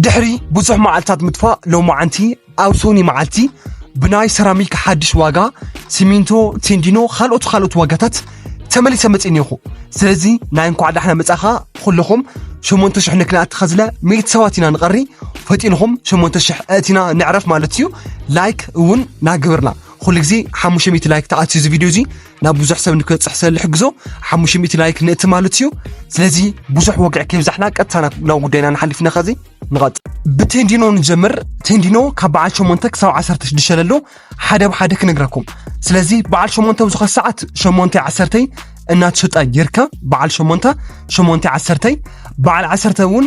ድሕሪ ብዙሕ መዓልታት ምጥፋእ ሎማዓንቲ ኣብ ሶኒ መዓልቲ ብናይ ሰራሚክ ሓድሽ ዋጋ ሲሚንቶ፣ ቴንዲኖ ካልኦት ካልኦት ዋጋታት ተመሊሰ መፅ እኒኹ ስለዚ ናይ እንኳዕ ዳሕና መፃኻ ኩልኹም ሸሞንተ ሽሕ ንክልኣቲ ከዝለ ሚእቲ ሰባት ኢና ንቐሪ ፈጢንኹም ሸሞንተ ሽሕ እእቲና ንዕረፍ ማለት እዩ ላይክ እውን ናግብርና ኩሉ ግዜ ሓሙሽተ ሚእቲ ላይክ ተኣትዩ እዚ ቪድዮ እዚ ናብ ብዙሕ ሰብ ንክበፅሕ ስለልሕግዞ ሓሙሽተ ሚእቲ ላይክ ንእቲ ማለት እዩ ስለዚ ብዙሕ ወግዕ ከይብዛሕና ቀጥታ ናብ ጉዳይና ንሓልፍ ኢና ከዚ ንቐጥ ብቴንዲኖ ንጀምር ቴንዲኖ ካብ በዓል ሸሞንተ ክሳብ ዓሰርተ ሽዱሽተ ለሎ ሓደ ብሓደ ክነግራኩም ስለዚ በዓል ሸሞንተ ብዝኾነ ሰዓት ሸሞንተ ዓሰርተይ እናተሸጣ ይርከብ በዓል ሸሞንተ ሸሞንተ ዓሰርተይ በዓል ዓሰርተ እውን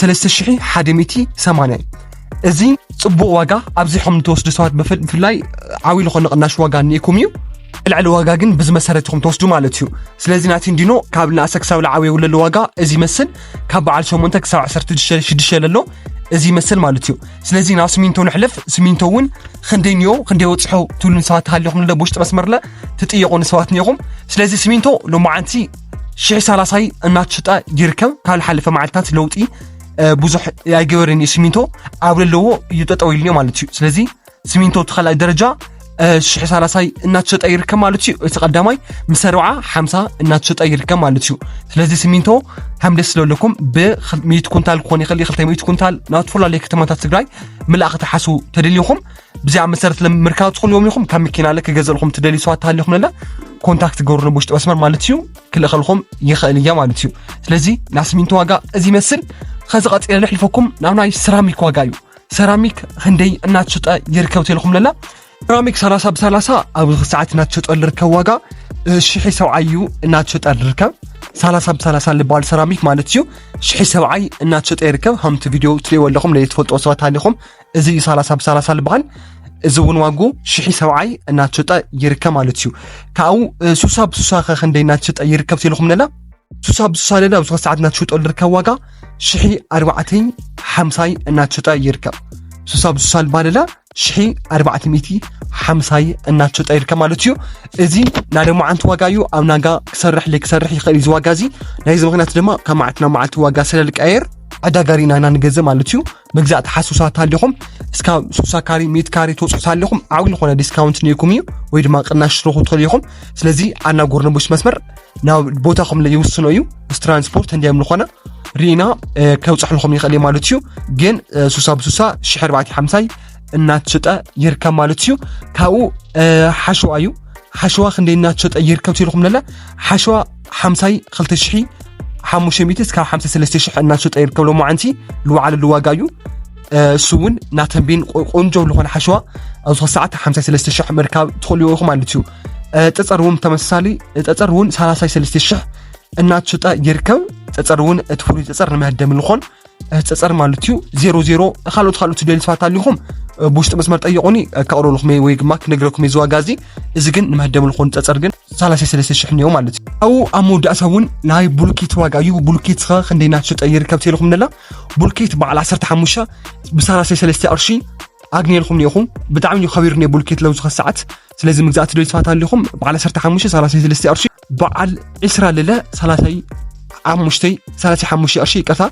3180 እዩ እዚ ፅቡቕ ዋጋ ኣብዚሖም ንተወስዱ ሰባት ብፍላይ ዓብዪ ዝኾነ ቅናሽ ዋጋ እኒኢኩም እዩ ልዕሊ ዋጋ ግን ብዚ መሰረት ኢኹም ተወስዱ ማለት እዩ ስለዚ ናቲ እንዲኖ ካብ ንኣሰ ክሳብ ልዓብ የውለሉ ዋጋ እዚ ይመስል ካብ በዓል 8 ክሳብ 16 ለሎ እዚ ይመስል ማለት እዩ ስለዚ ናብ ስሚንቶ ንሕለፍ ስሚንቶ እውን ክንደይ ንዮ ክንደይ ወፅሖ ትብሉን ሰባት ሃሊኹም ለ ብውሽጢ መስመርለ ትጥየቑ ንሰባት ኒኹም ስለዚ ስሚንቶ ሎማዓንቲ ሽሕ ሳላሳይ እናተሸጣ ይርከብ ካብ ዝሓለፈ መዓልትታት ለውጢ ብዙሕ ኣይገበርን እዩ ሲሚንቶ ኣብ ዘለዎ እዩ ጠጠው ኢሉ ማለት እዩ ስለዚ ሲሚንቶ እቲ ካልኣይ ደረጃ ሽሕ ሳላሳይ እናተሸጠ ይርከብ ማለት እዩ እቲ ቀዳማይ ምስ ኣርብዓ ሓምሳ እናተሸጠ ይርከብ ማለት እዩ ስለዚ ሲሚንቶ ከም ደስ ዘለኩም ብሚት ኩንታል ክኾን ይኽእል ክልተ ሚት ኩንታል ናብ ዝተፈላለዩ ከተማታት ትግራይ ምላእኽ ትሓስቡ ተደሊኹም ብዚኣ መሰረት ምርካብ ትኽእልዎም ኢኹም ካብ መኪና ለ ክገዘልኹም ትደልዩ ሰባት ተሃሊኹም ነለ ኮንታክት ገብሩ ብውሽጢ መስመር ማለት እዩ ክልእኸልኹም ይኽእል እያ ማለት እዩ ስለዚ ናይ ስሚንቶ ዋጋ እዚ ይመስል ከዚ ቀፂለ ልሕልፈኩም ናብ ናይ ሰራሚክ ዋጋ እዩ ሰራሚክ ክንደይ እናትሸጠ ይርከብ ተልኹም ለላ ሰራሚክ 30 ብ30 ኣብዚ ክሰዓት እናትሸጠ ልርከብ ዋጋ ሽሒ ሰብዓይ እዩ እናትሸጠ ልርከብ 30 ብ30 ልበሃል ሰራሚክ ማለት እዩ ሽሒ ሰብዓይ እናትሸጠ ይርከብ ከምቲ ቪድዮ ትሪእዎ ኣለኹም ለየትፈልጦ ሰባት ሃሊኹም እዚ እዩ ሰላሳ ብሰላሳ ዝበሃል እዚ እውን ዋጉ ሽሒ ሰብዓይ እናተሸጠ ይርከብ ማለት እዩ ካብኡ ሱሳ ብሱሳ ከ ክንደይ እናተሸጠ ይርከብ ትልኹምለና ሱሳ ብሱሳ ለለ ኣብዚ ሰዓት እናተሸጠሉ ዝርከብ ዋጋ ሽሒ ኣርባዕተይ ሓምሳይ እናተሸጠ ይርከብ ሱሳ ብሱሳ ልባለለ ሽሒ ኣርባዕተ ሚእቲ ሓምሳይ እናተሸጠ ይርከብ ማለት እዩ እዚ ናይ ደማዓንቲ ዋጋ እዩ ኣብ ናጋ ክሰርሕ ለይክሰርሕ ይኽእል እዩ እዚ ዋጋ እዚ ናይዚ ምክንያት ድማ ካብ መዓልቲ ናብ መዓልቲ ዋጋ ስለልቀየር ዕዳጋሪና ኢና ንገዝእ ማለት እዩ ምግዛእ ተሓሱሳት ኣሊኹም እስካብ 60 ካሪ ሚት ካሪ ተውፅኡት ኣሊኹም ዓብይ ዝኾነ ዲስካውንት ኒኩም እዩ ወይ ድማ ቅናሽ ትረኹ ትኽእሉ ኢኹም ስለዚ ኣና ጎርነቦች መስመር ናብ ቦታኹም ይውስኖ እዩ ምስ ትራንስፖርት እንዲዮም ዝኾነ ርኢና ከውፅሕልኹም ይኽእል ማለት እዩ ግን ሱሳ ብሱሳ ሽሕ 450 እናትሸጠ ይርከብ ማለት እዩ ካብኡ ሓሸዋ እዩ ሓሸዋ ክንደይ እናትሸጠ ይርከብ ትልኹም ለለ ሓሸዋ ሓምሳይ ክልተ ሽሒ ሓሙሽተ ሚእቲ እስካብ ሓምሳ ሰለስተ ሽሕ እናሸጠ ይርከብ ሎማዓንቲ ዝወዓለሉ ዋጋ እዩ እሱ እውን ናተንቤን ቆንጆ ዝኾነ ሓሸዋ ኣብ ዝኾነ ሰዓት ሓምሳ ሰለስተ ሽሕ ምርካብ ትኽእሉ ኢኹም ማለት እዩ ጠፀር እውን ተመሳሳሊ ጠፀር እውን ሰላሳይ ሰለስተ ሽሕ እናተሸጠ ይርከብ ፀፀር እውን እቲ ፍሉይ ፀፀር ንመህደሚ ዝኾን ሕፀፀር ማለት እዩ ዜሮ ዜሮ ካልኦት ካልኦት ደሊ ስፋት ኣሊኹም ብውሽጢ መስመር ጠይቁኒ ከቕርብልኩም ወይ ድማ ክነግረኩም እዩ ዝዋጋ እዚ እዚ ግን ንመህደም ልኾኑ ፀፀር ግን 33 ሽሕ እኒኦ ማለት እዩ ኣብኡ ኣብ መወዳእታ እውን ናይ ቡልኬት ዋጋ እዩ ቡልኬት ኸ ክንደይ እናተሸጠ ይርከብ ተልኹም ነላ ቡልኬት በዓል 15 ብ33 ቅርሺ ኣግኒልኩም ኒኹም ብጣዕሚ እዩ ከቢሩ ነ ቡልኬት ለውዚ ከሰዓት ስለዚ ምግዛእ ትደልዩ ስፋት ኣሊኹም በዓል 15 33 ቅርሺ በዓል ዕስራ ልለ ሰላሳይ ሓሙሽተይ ሰላሳ ሓሙሽተ ቅርሺ ይቅርታ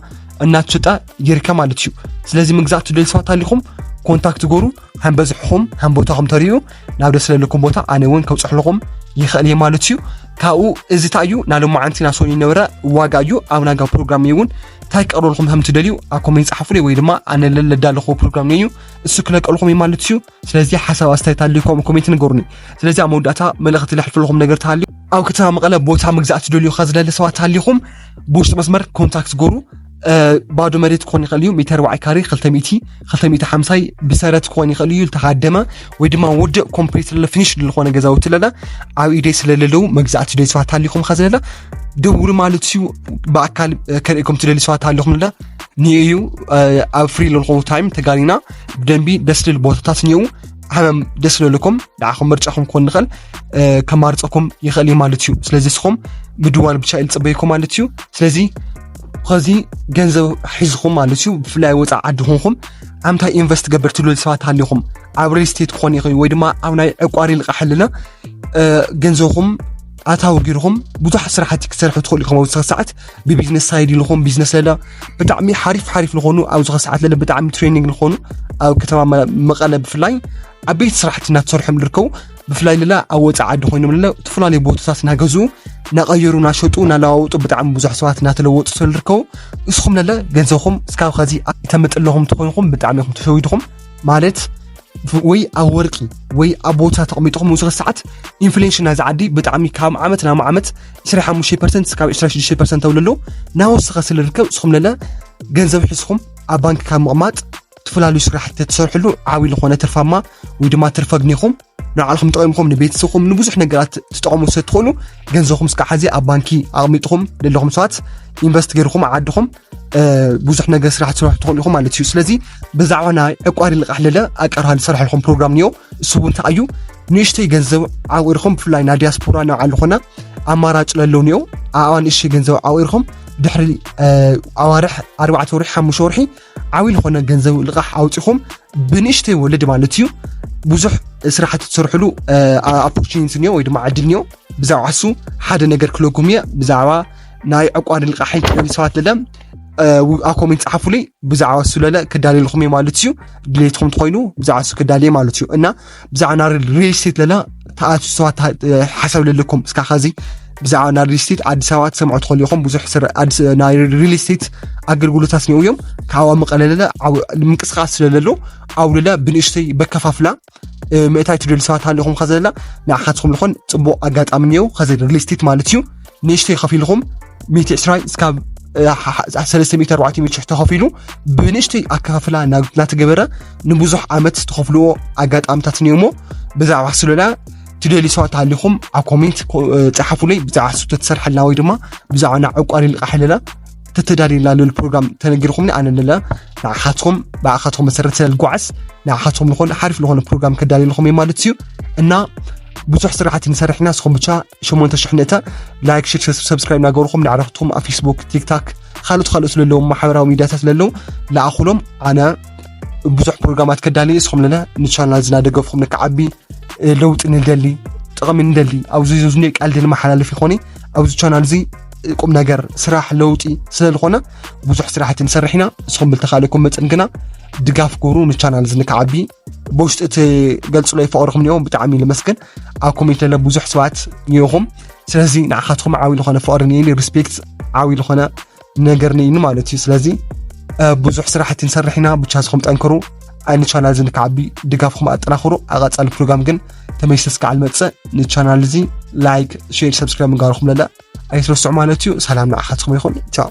እናትሸጣ ይርከብ ማለት እዩ ስለዚ ምግዛእ ትደልዩ ሰባት ኣሊኹም ኮንታክት ገሩ ከም በዝሕኹም ከም ቦታኹም ተሪኡ ናብ ደስ ዘለኩም ቦታ ኣነ እውን ከብፅሕልኹም ይኽእል እየ ማለት እዩ ካብኡ እዚ እንታይ እዩ ናይ ሎማዓንቲ ናብ ሶኒ ነበረ ዋጋ እዩ ኣብ ናጋ ፕሮግራም እዩ እውን እንታይ ክቀርበልኩም ከም ትደልዩ ኣብ ኮሜንት ፀሓፉለይ ወይ ድማ ኣነ ለዳለኹ ፕሮግራም እዩ እሱ ክለቀልኹም እዩ ማለት እዩ ስለዚ ሓሳብ ኣስተያየት ኣልዩኩም ኮሜንት ንገሩኒ። ስለዚ ኣብ መወዳእታ መልእኽቲ ለሕልፈለኹም ነገር ተሃልዩ ኣብ ከተማ መቐለ ቦታ ምግዛእ ትደልዩ ከዝለለ ሰባት ሃሊኹም ብውሽጢ መስመር ኮንታክት ገሩ ባዶ መሬት ክኾን ይኽእል እዩ ሜተር ባዓይ ካሬ 250 ብሰረት ክኾን ይኽእል እዩ ዝተሃደመ ወይ ድማ ውድእ ኮምፕሊት ለለ ፊኒሽ ዝኾነ ገዛውቲ ለለ ኣብ ኢደይ ስለለለው መግዛእቲ ደይ ሰባት ሃሊኹም ከዝለለ ደውሉ ማለት እዩ ብኣካል ከርእኩም ትደሊ ሰባት ሃሊኹም ለለ ንዩ ኣብ ፍሪ ለልኹም ታይም ተጋሊና ብደንቢ ደስ ልል ቦታታት እኒኡ ዓመም ደስ ለልኩም ንዓኹም ምርጫኹም ክኾን ንኽእል ከማርፀኩም ይኽእል እዩ ማለት እዩ ስለዚ እስኹም ምድዋል ብቻ ኢል ፅበይኩም ማለት እዩ ስለዚ ከዚ ገንዘብ ሒዝኹም ማለት እዩ ብፍላይ ወፃእ ዓዲ ኮንኩም ኣምታይ ኢንቨስት ገበር ትብሉ ሰባት ሃሊኹም ኣብ ሪል ስቴት ክኾን ይኽእል ወይ ድማ ኣብ ናይ ዕቋሪ ልቃሕልና ገንዘብኹም ኣታዊ ጊርኹም ብዙሕ ስራሕቲ ክትሰርሑ ትኽእሉ ኢኹም ኣብ ሰዓት ብቢዝነስ ሳይድ ንኾን ቢዝነስ ለላ ብጣዕሚ ሓሪፍ ሓሪፍ ንኾኑ ኣብዚ ከሰዓት ለለ ብጣዕሚ ትሬኒንግ ንኾኑ ኣብ ከተማ መቐለ ብፍላይ ዓበይቲ ስራሕቲ እናተሰርሖም ዝርከቡ ብፍላይ ለላ ኣብ ወፃኢ ዓዲ ኮይኖም ለለ ዝተፈላለዩ ቦታታት እናገዙ እናቐየሩ እናሸጡ እናለዋወጡ ብጣዕሚ ብዙሕ ሰባት እናተለወጡ ስለ ዝርከቡ ንስኹም ለለ ገንዘብኹም እስካብ ከዚ ኣይተምጥ ኣለኹም ተኮይንኹም ብጣዕሚ ኹም ተሸዊድኹም ማለት ወይ ኣብ ወርቂ ወይ ኣብ ቦታ ተቐሚጥኹም ንዝኸ ሰዓት ኢንፍሌሽን ናይዚ ዓዲ ብጣዕሚ ካብ ዓመት ናብ ዓመት ዕስራ ሓሙሽተ ፐርሰንት እስካብ ዕስራ ሽዱሽተ ፐርሰንት ተብሎ ኣለዉ ናወሰኸ ስለ ዝርከብ እስኹም ለለ ገንዘብ ሕዝኹም ኣብ ባንኪ ካብ ምቕማጥ ዝተፈላለዩ ስራሕቲ ተሰርሕሉ ዓብዪ ዝኾነ ትርፋማ ወይ ድማ ትርፈ ግኒኹም ንባዕልኹም ጠቂምኩም ንቤተሰብኩም ንብዙሕ ነገራት ትጠቕሙ ስለ ትኽእሉ ገንዘብኩም እስካብ ሓዚ ኣብ ባንኪ ኣቕሚጥኹም ዘለኹም ሰባት ኢንቨስት ገይርኹም ዓድኹም ብዙሕ ነገር ስራሕ ትሰርሑ ትኽእሉ ኢኹም ማለት እዩ ስለዚ ብዛዕባ ናይ ዕቋሪ ልቓሕ ለለ ኣቀርሃ ዝሰርሐ ኢኹም ፕሮግራም እኒኦ እሱ እውን እንታይ እዩ ንእሽተይ ገንዘብ ዓቂርኹም ብፍላይ ናይ ዲያስፖራ ናብ ዓሉ ኮና ኣማራጭ ለለው እኒኦ ኣኣ ንእሽተይ ገንዘብ ዓቂርኹም ድሕሪ ኣዋርሕ ኣርባዕተ ወርሒ ሓሙሽተ ወርሒ ዓብዪ ዝኾነ ገንዘብ ልቓሕ ኣውፂኹም ብንእሽተይ ወለድ ማለት እዩ ብዙሕ ስራሕቲ ትሰርሕሉ ኣፖርቹኒቲ እኒኦ ወይ ድማ ዕድል እኒኦ ብዛዕባ እሱ ሓደ ነገር ክለኩም እየ ብዛዕባ ናይ ዕቋድ ልቃሕን ክደሊ ሰባት ለለ ኣብ ኮሜንት ጸሓፉለይ ብዛዕባ እሱ ለለ ክዳልልኹም እየ ማለት እዩ ድሌትኩም ትኮይኑ ብዛዕባ እሱ ክዳል እየ ማለት እዩ እና ብዛዕባ ናይ ሪል ስቴት ለለ ተኣትዩ ሰባት ሓሳብ ለለኩም እስካ ከዚ ብዛዕባ ናይ ሪል ስቴት ኣዲስ ኣበባ ትሰምዑ ትኽእሉ ኢኹም ብዙሕ ናይ ሪል ስቴት ኣገልግሎታት ኒው እዮም ካብኣ መቐለለለ ምንቅስቃስ ስለለሎ ኣብለለ ብንእሽተይ በከፋፍላ ምእታይ ትደልዩ ሰባት ሃሊኹም ከዘላ ንዓኻትኩም ዝኾን ፅቡቕ ኣጋጣሚ እኒኦ ከዚ ሪል ስቴት ማለት እዩ ንእሽተይ ከፊልኹም 120 እስካብ 340 ተኸፊሉ ብንእሽተይ ኣከፋፍላ እናተገበረ ንብዙሕ ዓመት ተኸፍልዎ ኣጋጣሚታት እኒኦሞ ብዛዕባ ስለላ ትደልዩ ሰባት ሃሊኹም ኣብ ኮሜንት ፀሓፉለይ ብዛዕባ ስቶ ተሰርሐልና ወይ ድማ ብዛዕባ ናብ ዕቋሪ ልቃሕለላ ተተዳልዩላ ልል ፕሮግራም ተነጊርኹምኒ ኣነ ልለ ንዓኻትኩም ብኣኻትኩም መሰረት ስለልጓዓዝ ንዓኻትኩም ዝኾነ ሓሪፍ ዝኾነ ፕሮግራም ከዳልየልኹም እዩ ማለት እዩ እና ብዙሕ ስራሕቲ ንሰርሕ ኢና ንስኹም ብቻ 8 ሽሕ ንእተ ላይክ ሽር ሰብስክራይብ እናገበርኹም ንዕረኽትኩም ኣብ ፌስቡክ ቲክታክ ካልኦት ካልኦት ለለዎ ማሕበራዊ ሚዲያታት ለለዉ ለኣኹሎም ኣነ ብዙሕ ፕሮግራማት ከዳልየ ንስኹም ለለ ንቻናል ዝናደገፍኹም ንክዓቢ ለውጢ ንደሊ ጥቕሚ ንደሊ ኣብዚ ዝኒ ቃልዲ ንመሓላለፍ ይኾነ ኣብዚ ቻናል እዚ ቁም ነገር ስራሕ ለውጢ ስለዝኾነ ብዙሕ ስራሕቲ ንሰርሕ ኢና ንስኹም ብልተኻለኩም መፅን ግና ድጋፍ ግብሩ ንቻናል እዚ ንክዓቢ ብውሽጢ እቲ ገልፅሎ ይፈቅርኹም ኒኦም ብጣዕሚ ልመስገን ኣብ ኮሜንት ለለ ብዙሕ ሰባት ኒኹም ስለዚ ንዓኻትኩም ዓብይ ዝኾነ ፍቅሪ ኒኒ ሪስፔክት ዓብይ ዝኾነ ነገር ኒኒ ማለት እዩ ስለዚ ብዙሕ ስራሕቲ ንሰርሕ ኢና ብቻ ዝኹም ጠንክሩ ኣይ ንቻናል እዚ ንክዓቢ ድጋፍኩም ኣጠናኽሩ ኣቐፃሊ ፕሮግራም ግን ተመይሰስ ክዓል መፅእ ንቻናል እዚ ላይክ ሼር ሰብስክራይብ ንጋርኹም ለለ ኣይትረስዑ ማለት እዩ። ሰላም ንዓኻትኩም ይኹን ቻው።